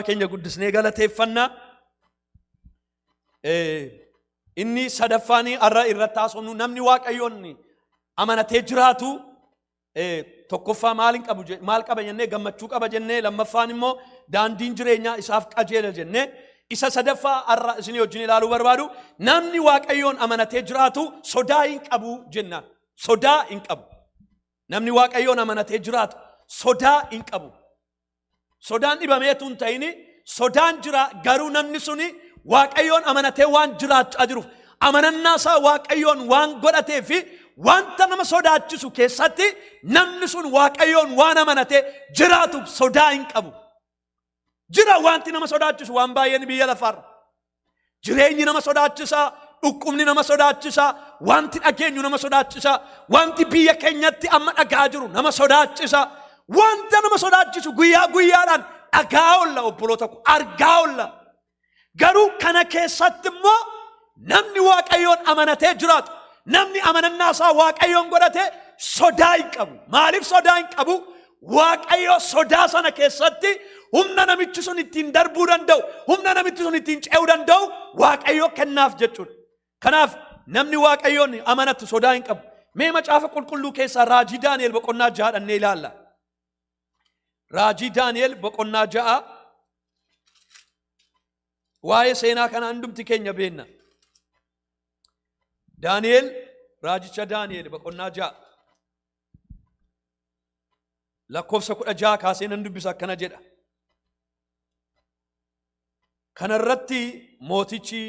Gooftaa keenya guddisnee galateeffanna. Inni sadaffaan har'a irratti haasofnu namni waaqayyoon amanatee jiraatu tokkoffaa maal hin qabu maal qaba jennee gammachuu qaba jennee lammaffaan immoo daandiin jireenyaa isaaf qajeela jennee isa sadaffaa har'a isinii wajjin ilaaluu barbaadu namni waaqayyoon amanatee jiraatu sodaa hin qabu jennaan sodaa hin qabu namni waaqayyoon amanatee jiraatu sodaa hin qabu Sodaan dhibameetu hin ta'ini sodaan jira garuu namni suni waaqayyoon amanatee waan jiraachaa jiruuf amanannaa isaa waaqayyoon waan godhatee fi wanta nama sodaachisu keessatti namni sun waaqayyoon waan amanatee jiraatuuf sodaa hin qabu. Jira wanti nama sodaachisu waan baay'een biyya lafaarra. Jireenyi nama sodaachisaa, dhukkubni nama sodaachisaa, wanti dhageenyu nama sodaachisaa, wanti biyya keenyatti amma dhagaa jiru nama sodaachisaa, wanta nama sodaachisu guyyaa guyyaadhaan dhagaa olla obboloota koo argaa olla. Garuu kana keessatti immoo namni waaqayyoon amanatee jiraatu, namni amanannaa isaa waaqayyoon godhatee sodaa hin qabu. Maaliif sodaa hin qabu? Waaqayyo sodaa sana keessatti humna namichi sun ittiin darbuu danda'u, humna namichi sun ittiin ce'uu danda'u Waaqayyo kennaaf jechuudha. Kanaaf namni Waaqayyoon amanatu sodaa hin qabu. Mee macaafa qulqulluu keessaa raajii Daani'el boqonnaa ja'a dhannee ilaalla. Raajii Daani'el boqonnaa ja'a waa'ee seenaa kana hundumti keenya beenna. Daani'el raajicha Daani'el boqonnaa ja'a. lakkoofsa kudha jaha kaasee nan dubbisa akkana jedha. Kana irratti mootichi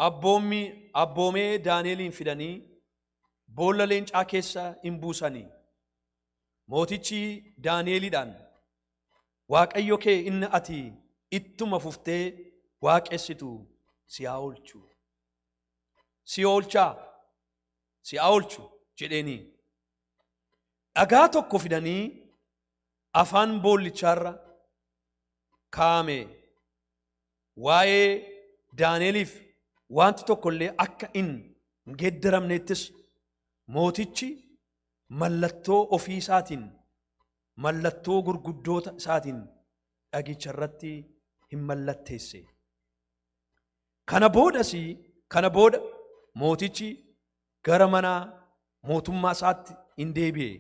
abboommi abboomee Daani'eliin fidanii boolla leencaa keessa in buusanii. Mootichi Daani'eliidhaan Waaqayyo kee inni ati ittuma fuftee waaqessitu si haa oolchu. si oolchaa si haa oolchu jedheenii dhagaa tokko fidanii afaan boollichaarra kaa'ame waa'ee Daani'eliif wanti tokko illee akka hin geddaramneettis mootichi mallattoo ofii isaatiin mallattoo gurguddoota isaatiin dhagicha irratti hin mallatteesse. Kana boodas kana booda mootichi gara mana mootummaa isaatti in deebi'e.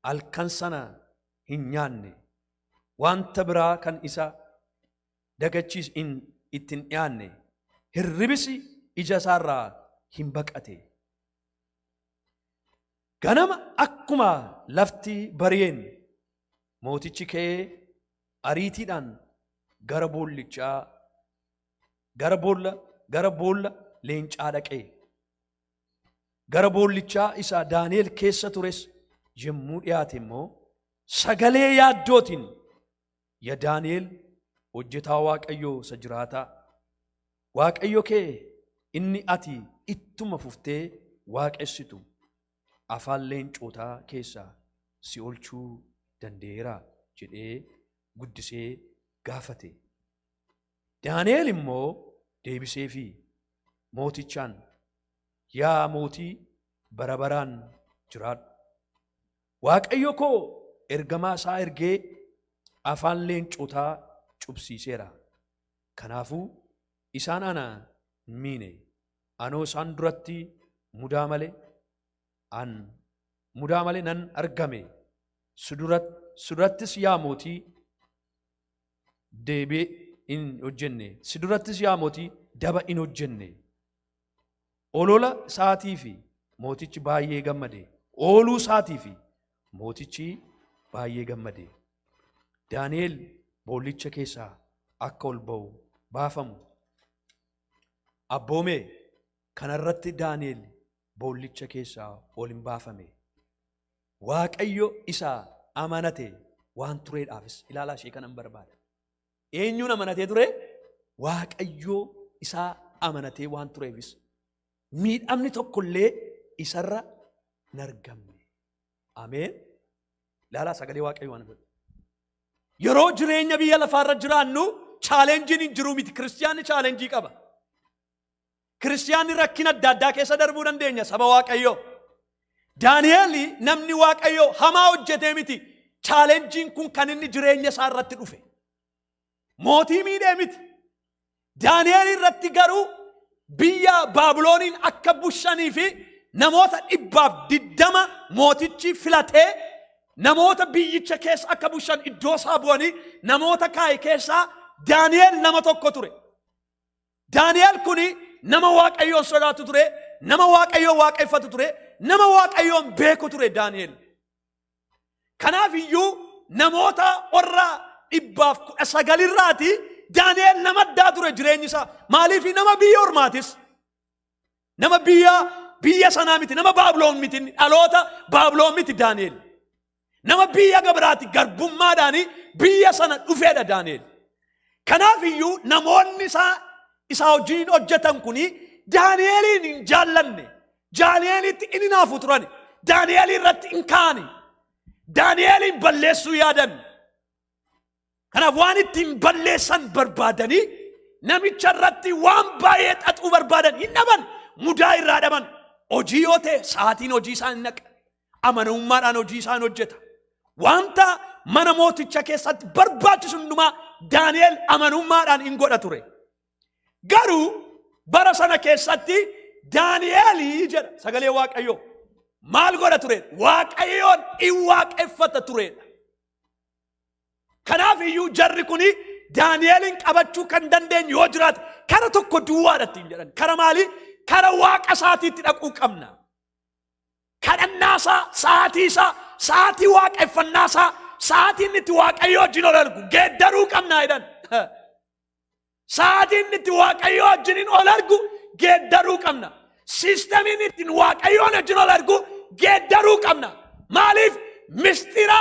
Halkan sana hin nyaanne. Wanta biraa kan isa dagachiis in itti hin dhiyaanne. Hirribis ija isaarraa hin baqate. Ganama akkuma lafti bari'een mootichi ka'ee ariitiidhaan gara boollichaa gara boolla gara boolla leencaa dhaqee gara boollichaa isaa Daani'el keessa tures yommuu dhiyaate immoo sagalee yaaddootiin ya Daani'el hojjetaa Waaqayyoo isa jiraataa Waaqayyo kee inni ati ittuma fuftee waaqessitu afaan leencootaa keessaa si olchuu danda'eera jedhee guddisee gaafate. Daani'eel immoo deebisee fi mootichaan yaa mootii bara baraan jiraadhu. Waaqayyo koo ergamaa isaa ergee afaan leencotaa cubsiiseera. Kanaafuu isaan ana hin miine. Anoo isaan duratti mudaa malee an mudaa malee nan argame. Sudurattis yaa mootii deebee in hojjenne si durattis yaa mootii daba in hojjenne olola isaatii fi mootichi baay'ee gammade ooluu isaatii fi mootichi baay'ee gammade daani'el boollicha keessaa akka ol ba'u baafamu abboomee kanarratti daani'el boollicha keessaa ol hin baafame Waaqayyo isa amanate waan tureedhaafis ilaalaa ishee kanan barbaada. Eenyuun amanatee ture? Waaqayyo isa amanatee waan tureefis miidhamni tokkollee isarra hin argamne. Ameen. Ilaalaa sagalee Waaqayyo waan godhu. Yeroo jireenya biyya lafaarra jiraannu chaalenjiin hin jiru miti. Kiristiyaanni chaalenjii qaba. Kiristiyaanni rakkina adda addaa keessa darbuu dandeenya saba Waaqayyoo. Daani'eel namni Waaqayyoo hamaa hojjetee miti. Chaalenjiin kun kan inni jireenya isaa irratti dhufe. Mootii miidhee miti. Daani'eel irratti garuu biyya Baabilooniin akka bushanii fi namoota dhibbaaf diddama mootichi filatee namoota biyyicha keessa akka bushan iddoo isaa bu'anii namoota kaa'e keessaa Daani'eel nama tokko ture. Daani'el kuni nama Waaqayyoon sodaatu ture, nama Waaqayyoon waaqeffatu ture, nama Waaqayyoon beeku ture Daani'el. Kanaaf iyyuu namoota warra dhibbaaf kudha sagalirraati Daani'el nama addaa ture jireenyi isaa. Maaliif nama biyya ormaatis. Nama biyya biyya sanaa miti nama Baabiloon miti inni dhaloota Baabiloon miti Daani'el. Nama biyya gabiraati garbummaadhaan biyya sana dhufeedha Daani'el. Kanaaf iyyuu namoonni isaa isaa wajjin hojjetan kun Daani'eliin hin jaallanne. Daani'elitti hin hinaafu turan. Daani'elii irratti hin kaani. Daani'eliin balleessuu yaadan. Kanaaf waan ittiin balleessan barbaadanii namicha irratti waan baay'ee xaxuu barbaadan hin dhaban mudaa irraa dhaban hojii yoo ta'e sa'aatiin hojii isaa hin naqa amanamummaadhaan hojii isaa hin hojjeta wanta mana mooticha keessatti barbaachisu hundumaa Daani'el amanummaadhaan hin godha ture garuu bara sana keessatti Daani'elii jedha sagalee waaqayyoo maal godha ture waaqayyoon in waaqeffata turedha Kanaaf iyyuu jarri kun Daani'eliin qabachuu kan dandeenyu yoo jiraate kara tokko duwwaadha ittiin jedhan. Kara maalii? Kara waaqa isaatiitti dhaquu qabna. Kadhannaa isaa, sa'aatii isaa, sa'aatii waaqeffannaa isaa, sa'aatii inni itti waaqayyoo wajjin ol argu geeddaruu qabna jedhan. Sa'aatii inni itti Waaqayyoo wajjiniin ol argu geeddaruu qabna. Siistamiin ittiin Waaqayyoon wajjin ol argu geeddaruu qabna. Maaliif mistira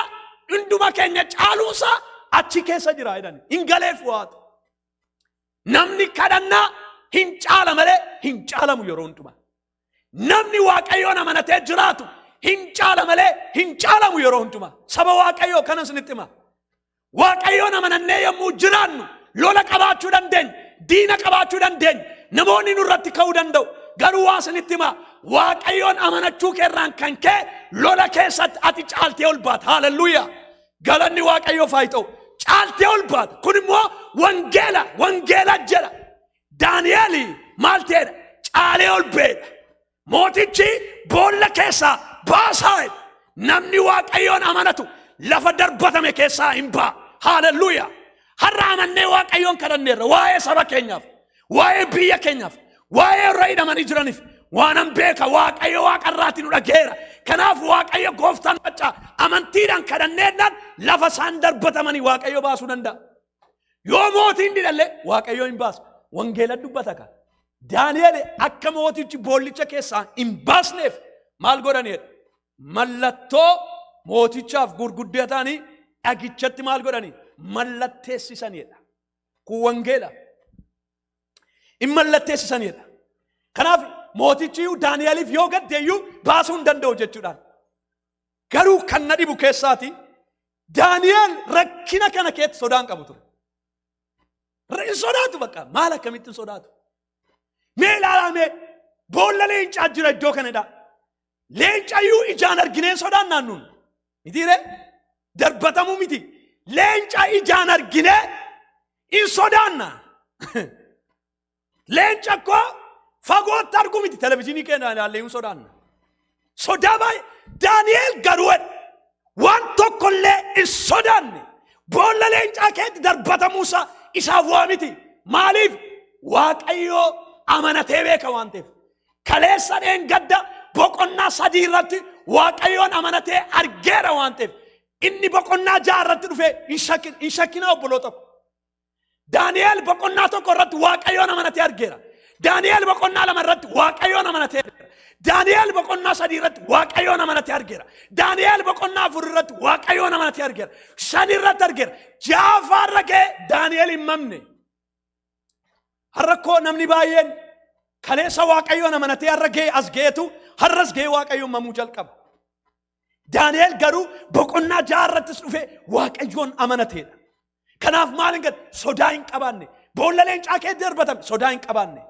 hunduma keenya caaluusaa achi keessa jira jedhani. Hin galeef waatu. Namni kadhannaa hin caala malee hin caalamu yeroo hundumaa. Namni Waaqayyoon amanatee jiraatu hin caala malee hin caalamu yeroo hundumaa. Saba Waaqayyoo kana isinitti hima. Waaqayyoon amanannee yommuu jiraannu lola qabaachuu dandeenya, diina qabaachuu dandeenya, namoonni nurratti ka'uu danda'u. Garuu waa isinitti hima. Waaqayyoon amanachuu keerraan kan ka'e lola keessatti ati caaltee ol baata. Haaleluyyaa! Galanni Waaqayyoof haa ta'u. Caaltee ol baata. Kun immoo wangeela, wangeela jedha. Daani'el maal ta'edha? Caalee ol ba'edha. Mootichi boolla keessaa baasaa jedhe. Namni Waaqayyoon amanatu lafa darbatame keessaa hin ba'a. Haalelluuyaa! Har'a amannee Waaqayyoon kadhanneerra waa'ee saba keenyaaf, waa'ee biyya keenyaaf, waa'ee warra hidhamanii jiraniif waanan beeka Waaqayyo waaqa irraatii nu dhageera. Kanaaf Waaqayyo gooftaan maccaa amantiidhaan kadhanneedhaan lafa isaan darbatamanii Waaqayyo baasuu danda'a. Yoo mootii hin didhalle waaqayyoo hin baasu. Wangeela dubbata ka. Daani'el akka mootichi boollicha keessaa hin baasneef maal godhaniidha? Mallattoo mootichaaf gurguddaa ta'anii dhagichatti maal godhanii? Mallatteessisaniidha. Kun wangeela. Hin mallatteessisaniidha. Kanaaf mootichi iyyuu Daani'eliif yoo gadde iyyuu baasuu hin danda'u jechuudhaan. Garuu kan na dhibu keessaati Daani'eel rakkina kana keetti sodaan qabu ture. Hin sodaatu bakka maal akkamittiin sodaatu. Mee ilaalaa mee boolla leencaa jira iddoo kanadha. Leencayyuu ijaan argineen sodaan naannuun. Miti ree darbatamuu miti. Leenca ijaan arginee hin sodaanna. Leenca koo fagootti argu miti televizyiinii keenya ilaallee hin sodaanna. Sodaa baay'ee Daani'eel garuu jedhe, waan tokkollee hin sodaanne boolla leencaa keetti darbatamuusaa isaaf waa miti. Maaliif? Waaqayyoo amanatee beeka waan ta'eef. Kaleessa dheengadda boqonnaa sadii irratti Waaqayyoon amanatee argeera waan ta'eef. Inni boqonnaa ja'a irratti dhufee hin shakkin- hin shakkinaa obboloota ko. Daani'eel boqonnaa tokko irratti waaqayyoon amanatee argeera. Daani'eel boqonnaa lama irratti waaqayyoon amanatee argeera. Daani'eel boqonnaa sadii irratti waaqayyoon amanatee argeera. Daani'eel boqonnaa afur irratti waaqayyoon amanatee argeera. Shan irratti argeera. Jaafaa irra ga'e Daani'eel hin mamne. Harrakkoo namni baay'een kaleessa waaqayyoon amanatee harra ga'e as ga'etu harras ga'e waaqayyoon mamuu jalqaba. Daani'el garuu boqonnaa ja'a irrattis dhufee waaqayyoon amanateedha. Kanaaf maal hin gad sodaa hin qabaanne. Boolla leencaa kee darbatame sodaa hin qabaanne.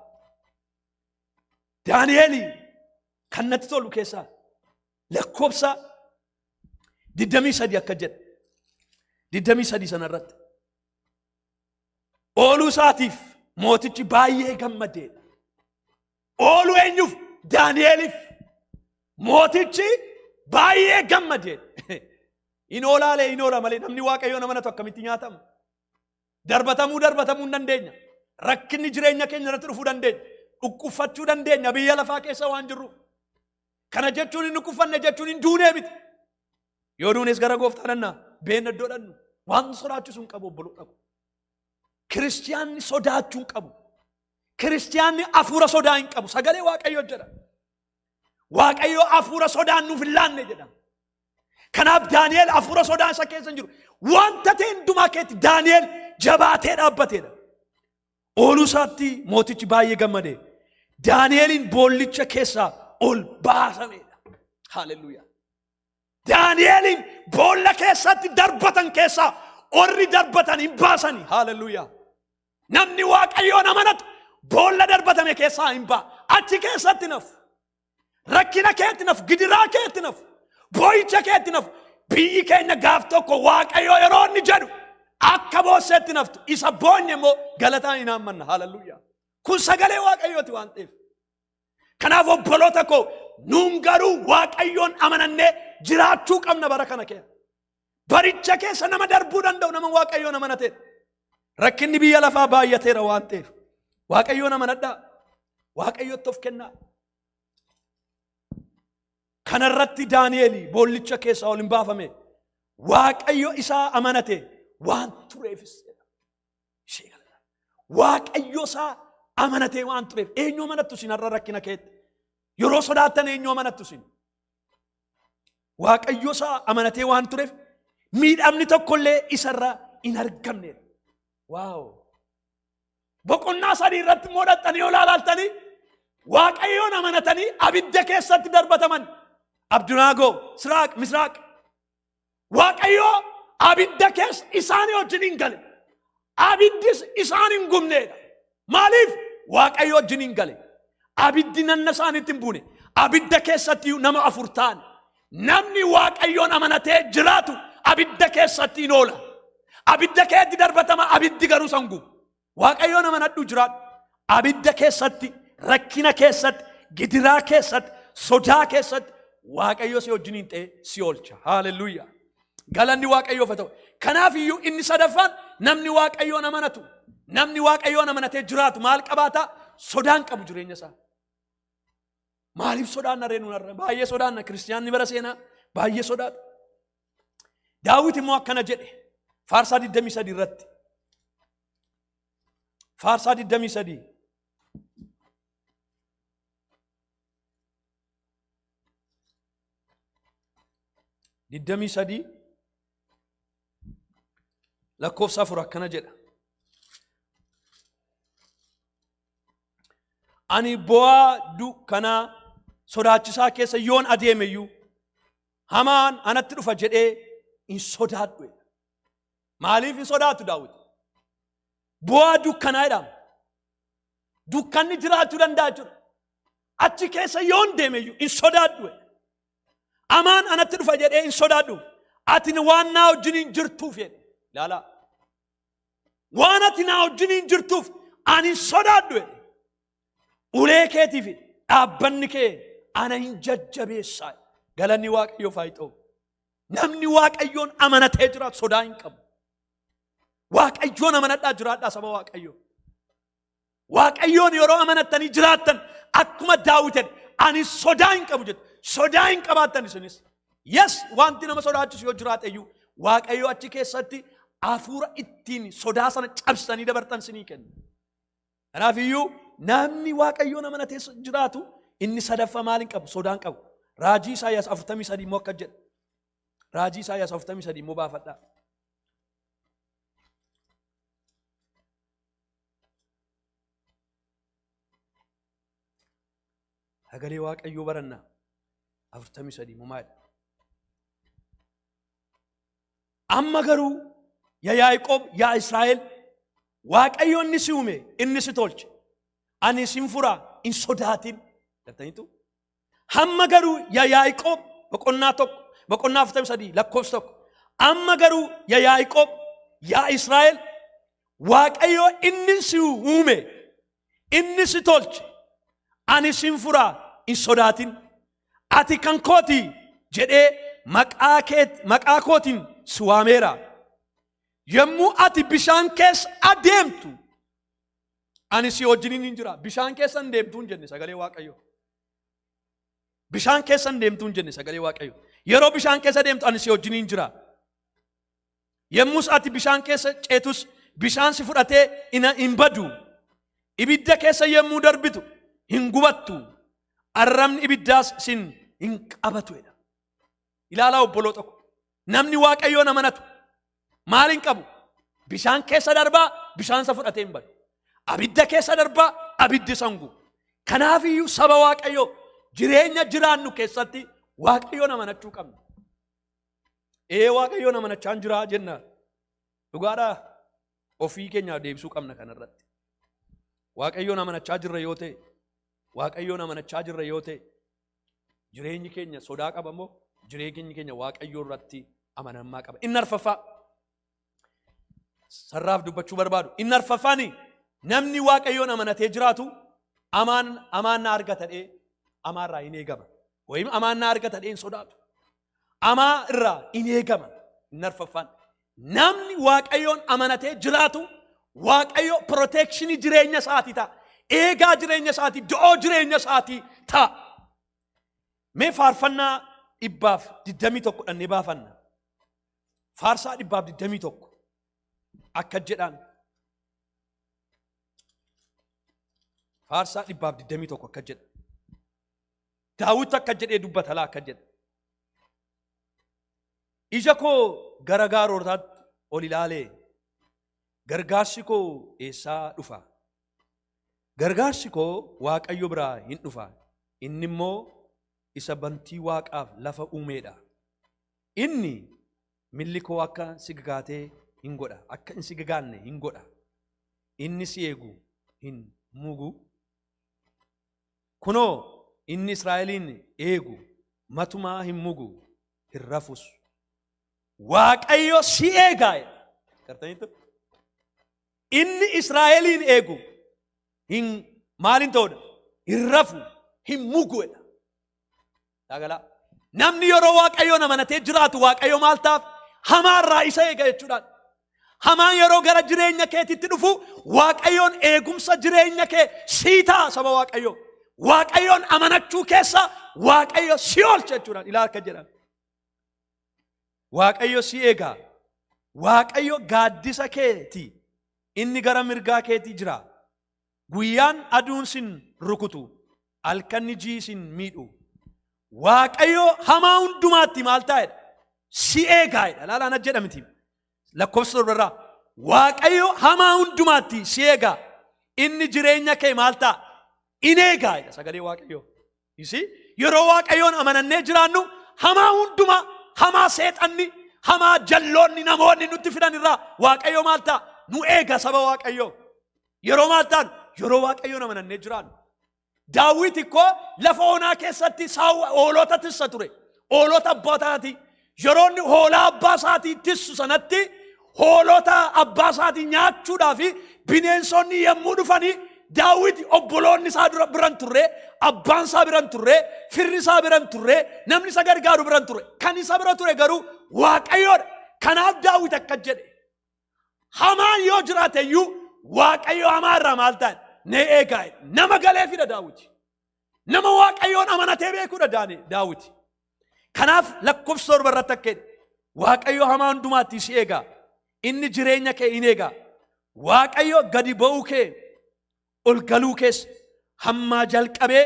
Daani'el kan natti tolu keessaa lakkoofsa 23 akka jedhe. 23 sana irratti. Ooluu isaatiif mootichi baay'ee gammadeedha. Oolu eenyuuf? Daani'eeliif. Mootichi baay'ee gammade. Hin oolaalee hin oola malee namni waaqayyoon amanatu akkamitti nyaatama? Darbatamuu darbatamuu hin dandeenya. Rakkinni jireenya keenya irratti dhufuu dandeenya. Dhukkubfachuu dandeenya biyya lafaa keessa waan jirruuf. Kana jechuun hin dhukkubfanne jechuun hin duunee miti. Yoo duunes gara gooftaa dhannaa beenna iddoo dhannu waan sodaachisu hin qabu obboloota koo. Kiristiyaanni sodaachuu hin qabu. Kiristiyaanni hafuura sodaa hin qabu. Sagalee Waaqayyoo jedha. Waaqayyoo hafuura sodaan nuuf hin laanne jedha. Kanaaf Daani'eel hafuura sodaa isa keessa hin jiru. Wanta ta'e hundumaa keetti Daani'eel jabaatee dhaabbateedha. Ooluu isaatti mootichi baay'ee gammade. Daani'eeliin boollicha keessaa ol baasameedha. Haaleluyyaa. Daani'eliin boolla keessatti darbatan keessaa orri darbatan hin baasani. Haaleluyyaa. Namni waaqayyoon amanatu boolla darbatame keessaa hin ba'a. Achi keessatti naf. Rakkina keetti naf, gidiraa keetti naf, boo'icha keetti naf. Biyyi keenya gaaf tokko waaqayyoo yeroo inni jedhu akka boosseetti naftu isa boonye immoo galataan hin haammanna. Haaleluyyaa. Kun sagalee waaqayyooti waan ta'eef. Kanaaf obboloota koo nuun garuu waaqayyoon amanannee jiraachuu qabna bara kana keessa. Baricha keessa nama darbuu danda'u nama waaqayyoon amanatee. Rakkinni biyya lafaa baay'ateera waan ta'eef. Waaqayyoon amanadhaa. Waaqayyootti of kennaa. Kana irratti Daani'eel boollicha keessaa ol hin baafame. Waaqayyo isaa amanate waan tureefis. ishee galla. Waaqayyo isaa amanatee waan tureef eenyu amanattu isin har'a rakkina keetti. Yeroo sodaattan eenyu amanattu isin. Waaqayyo isaa amanatee waan tureef miidhamni tokkollee isarra hin argamne. Waaw! Boqonnaa sadii irratti immoo dhaxxanii yoo ilaalaaltanii waaqayyoon amanatanii abidda keessatti darbataman. Abdunaagoo, Siraaq, Misraaq Waaqayyoo abidda keessa isaanii wajjin hin gale. Abiddis isaan hin gubneedha. Maaliif? Waaqayyo wajjin hin gale. Abiddi nanna isaaniitti hin buune. Abidda keessatti nama afur ta'an. Namni Waaqayyoon amanatee jiraatu abidda keessatti hin oola. Abidda keetti darbatama abiddi garuu san gubu. Waaqayyoon amanadhu jiraadhu. Abidda keessatti, rakkina keessatti, gidiraa keessatti, sodaa keessatti Waaqayyo si wajjin hin ta'e si oolcha. Haaleluyyaa. Galanni Waaqayyoof haa ta'u. Kanaaf iyyuu inni sadaffaan namni Waaqayyoon amanatu, namni Waaqayyoon amanatee jiraatu maal qabaata? Sodaan qabu jireenya isaa. Maaliif sodaanna ree nuun har'a? Baay'ee sodaanna. Kiristiyaanni bara seenaa baay'ee sodaatu. Daawit immoo akkana jedhe faarsaa 23 irratti. Faarsaa 23. Digdamii sadii lakkoofsa afur akkana jedha. Ani bu'aa dukkana sodaachisaa keessa yoon adeemeyyuu Hamaan anatti dhufa jedhee hin sodaadhu. jedha. Maaliif hin sodaatu Daawit? Bu'aa dukkanaa jedhama. Dukkanni jiraachuu danda'a jechuudha. Achi keessa yoon deemeyyuu hin sodaadhu. jedha. Hamaan anatti dhufa jedhee hin sodaadhu. Ati waan naa wajjiniin jirtuuf jedhe. Ilaalaa. Waan ati naa wajjiniin jirtuuf ani hin sodaadhu. jedhe. Ulee keetii fi dhaabbanni kee ana hin jajjabeessaa. Galanni Waaqayyoof haa ta'u. Namni Waaqayyoon amanatee jiraatu sodaa hin qabu. Waaqayyoon amanadhaa jiraadhaa saba Waaqayyoo. Waaqayyoon yeroo amanattanii jiraattan akkuma daawwitan ani sodaa hin qabu jettu. Sodaa hin qabaattan isinis. Yes wanti nama sodaachisu yoo jiraate iyyuu Waaqayyo achi keessatti hafuura ittiin sodaa sana cabsanii dabartan sinii kenna. Kanaaf iyyuu namni waaqayyoon amanatee jiraatu inni sadaffa maal hin qabu sodaan qabu. Raajii Isaayyaas 43 immoo akka jedha. Raajii Isaayyaas 43 immoo baafadhaa. Sagalee waaqayyoo barannaa 43 immoo maali? Amma garuu ya Yaaqoob yaa Israa'el Waaqayyo inni si uume inni si tolche ani isin fura hin sodaatin jettaniitu. Hamma garuu ya Yaaqoob boqonnaa tokko boqonnaa afurtamii sadii lakkoofsa tokko amma garuu ya Yaaqoob yaa Israa'el Waaqayyo inni si uume Inni si tolche. Ani sin fura hin sodaatin. Ati kan kooti jedhee maqaa keet- maqaa kootiin si waameera. Yommuu ati bishaan keessa adeemtu ani si wajjinin hin jira. Bishaan keessa hin deemtu hin jenne sagalee Waaqayyoo. Bishaan keessa hin deemtu hin jenne sagalee Waaqayyoo. Yeroo bishaan keessa deemtu ani si wajjinin hin jira. Yommus ati bishaan keessa ceetus bishaan si fudhatee ina hin badu. Ibidda keessa yommuu darbitu hin gubattu. Arrabni ibiddaas sin hin qabatu jedha. Ilaalaa obboloo tokko. Namni waaqayyoon amanatu maal hin qabu? Bishaan keessa darbaa bishaan isa fudhatee hin badu. Abidda keessa darbaa abiddi isa hin gubu. Kanaafiyyuu saba waaqayyoo jireenya jiraannu keessatti waaqayyoon amanachuu qabna. Ee waaqayyoon amanachaan jiraa jenna. Dhugaadhaa ofii keenyaaf deebisuu qabna kanarratti. Waaqayyoon amanachaa jirra yoo ta'e, waaqayyoon amanachaa jirra yoo ta'e, jireenyi keenya sodaa qaba moo jireenyi keenya waaqayyoo irratti amanammaa qaba. Inni arfaffaa sarraaf dubbachuu barbaadu inni arfaffaani namni waaqayyoon amanatee jiraatu amaan amaan na argatadhee amaa irraa hin eegama wayim amaan na argatadhee hin sodaatu amaa irraa hin eegama inni arfaffaan namni waaqayyoon amanatee jiraatu waaqayyo proteekshinii jireenya isaatii ta'a eegaa jireenya isaatii do'oo jireenya isaatii ta'a mee faarfannaa dhibbaaf digdamii tokko dhannee baafanna Faarsaa dhibbaaf digdamii tokko akka jedhaan. Faarsaa dhibbaaf digdamii tokko akka jedha. Daawwitti akka jedhee dubbata laa akka jedha. Ija koo gara gaarootaatti ol ilaalee gargaarsi koo eessaa dhufa? Gargaarsi koo Waaqayyo biraa hin dhufa. Inni immoo isa bantii waaqaaf lafa uumeedha. Inni milli koo akka si gagaatee hin godha, akka hin si gagaanne hin godha. Inni si eegu hin mugu. Kunoo inni Israa'eliin eegu matumaa hin mugu, hin rafus. Waaqayyo si eegaa jedha. Gartaniittu? Inni Israa'eliin eegu hin maaliin ta'udha? Hin rafu, hin mugu jedha. Daagalaa. Namni yeroo waaqayyoon amanatee jiraatu waaqayyo maal taaf hamaarraa isa eega jechuudhaan. Hamaan yeroo gara jireenya keetitti dhufu waaqayyoon eegumsa jireenya kee sii ta'a saba waaqayyoo. Waaqayyoon amanachuu keessa waaqayyo si oolcha jechuudhaan ilaa akka jedhan. Waaqayyo si eegaa. Waaqayyo gaaddisa keeti. Inni gara mirgaa keetii jira. Guyyaan aduun sin rukutu, halkanni ji'i sin miidhu. Waaqayyo hamaa hundumaatti maal taa'edha? Si eegaadha. Laalaan ajjedha miti. Lakkoofsa torbarraa. Waaqayyo hamaa hundumaatti si eegaa. Inni jireenya kee maal ta'a? In eegaadha sagalee Waaqayyo. You see? Yeroo waaqayyoon amanannee jiraannu hamaa hundumaa hamaa seexanni hamaa jalloonni namoonni nutti fidan irraa waaqayyo maal ta'a? Nu eega saba waaqayyoo. Yeroo maal ta'an? Yeroo waaqayyoon amanannee jiraannu. Daawwiti koo lafa onaa keessatti saawwa hoolota tissa ture. Hoolota abbootaati. Yeroo inni hoolaa abbaa isaatii tissu sanatti hoolota abbaa isaatii nyaachuudhaa fi bineensonni yommuu dhufanii daawwiti obboloonni isaa dura biran turre abbaan isaa biran turre firri isaa biran turre namni isa gargaaru biran turre kan isa bira ture garuu waaqayyoodha kanaaf daawwiti akka jedhe hamaan yoo jiraate iyyuu waaqayyo hamaa irraa maal ta'e ne eegaa nama galee fida daawwiti Nama Waaqayyoon amanatee beekuudha Daani- Daawiti. Kanaaf lakkoofsa torba irratti akka jedhe Waaqayyo hamaa hundumaatti si eega. Inni jireenya kee in eega. Waaqayyo gadi ba'uu kee ol galuu kees hammaa jalqabee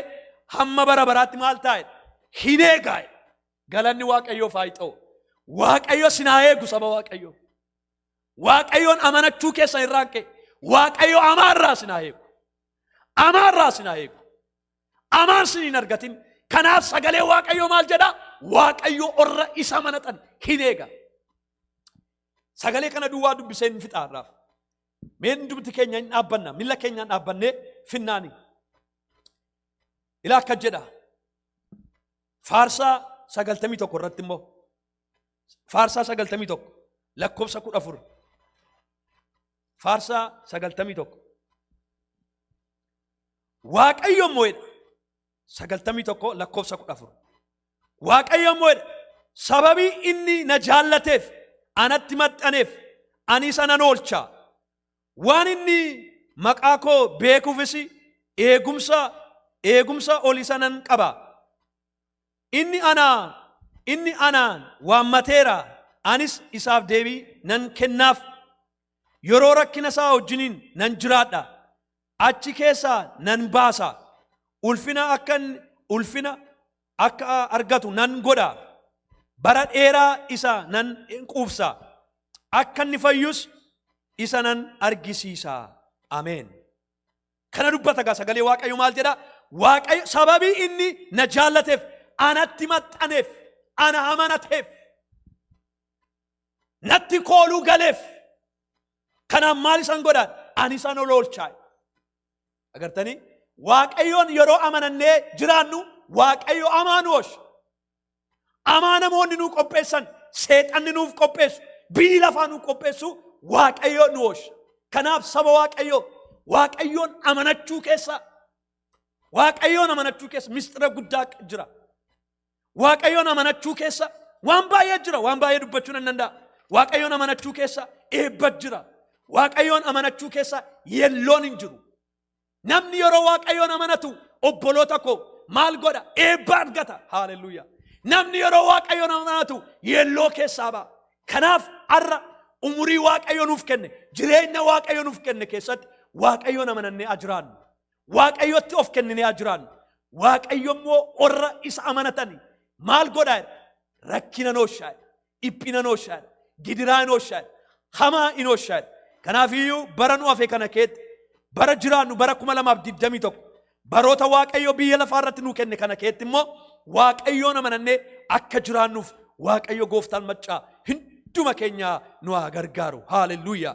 hamma bara baraatti maal taa'e hin eegaa'e. Galanni Waaqayyoof haa ta'u. Waaqayyo sin haa eegu saba Waaqayyoo. Waaqayyoon amanachuu keessan irraan ka'e. Waaqayyo hamaa irraa sin haa eegu. Amaa irraa isin haa eegu. Amaa isin hin argatin. Kanaaf sagalee Waaqayyoo maal jedha? Waaqayyo orra isa manatan hin eega. Sagalee kana duwwaa dubbisee hin fixaa irraaf. Mee hundumti keenya hin dhaabbanna. Milla keenyaan dhaabbannee finnaani. Ilaa akka jedha. Faarsaa sagaltamii tokko irratti immoo. Faarsaa sagaltamii tokko lakkoofsa kudha afur. Faarsaa sagaltamii tokko. Waaqayyo immoo jedha. Sagaltamii tokko lakkoofsa kudha afur. Waaqayyo immoo jedha. Sababii inni na jaallateef anatti maxxaneef ani isa nan oolcha. Waan inni maqaa koo beekuufis eegumsa eegumsa ol isa nan qaba. Inni ana, inni anaan waammateera, anis isaaf deebii nan kennaaf. Yeroo rakkina isaa wajjiniin nan jiraadha, achi keessaa nan baasa, ulfina akka inni ulfina akka argatu nan godha, bara dheeraa isa nan quubsa, akka inni fayyus isa nan argisiisa. Ameen. Kana dubbata gaa sagalee Waaqayyo maal jedha? Waaqayyo sababii inni na jaallateef, anatti maxxaneef, ana amanateef, natti kooluu galeef. Kanaaf maal isan godhaan? Ani isan ol oolchaa. Agartanii? Waaqayyoon yeroo amanannee jiraannu Waaqayyo amaan oolcha. Amaanamoonni nuu qopheessan seexanni nuuf qopheessu biyyi lafaa nuu qopheessu waaqayyo nu oolcha. Kanaaf saba waaqayyoo waaqayyoon amanachuu keessa waaqayyoon amanachuu keessa mistira guddaa jira. Waaqayyoon amanachuu keessa waan baay'ee jira waan baay'ee dubbachuu nan danda'a. Waaqayyoon amanachuu keessa eebba jira. Waaqayyoon amanachuu keessa yelloon hin jiru. Namni yeroo waaqayyoon amanatu obboloota koo maal godha? Eebba argata. Haaleluyyaa. Namni yeroo waaqayyoon amanatu yeelloo keessaa ba'a. Kanaaf har'a umurii waaqayyo nuuf kenne, jireenya waaqayyo nuuf kenne keessatti waaqayyoon amanannee haa jiraannu. Waaqayyotti of kenninee haa jiraannu. Waaqayyo immoo warra isa amanatani maal godha? Rakkina nooshaa. Dhiphina hin ooshaadha. Gidiraa hin ooshaadha. Hamaa hin ooshaadha. Kanaafiyyuu bara nu hafe kana keetti bara jiraannu bara 2021 baroota Waaqayyo biyya lafaa irratti nuu kenne kana keetti immoo Waaqayyoon amanannee akka jiraannuuf Waaqayyo gooftaan maccaa hunduma keenya nu haa gargaaru. Haaleluyyaa.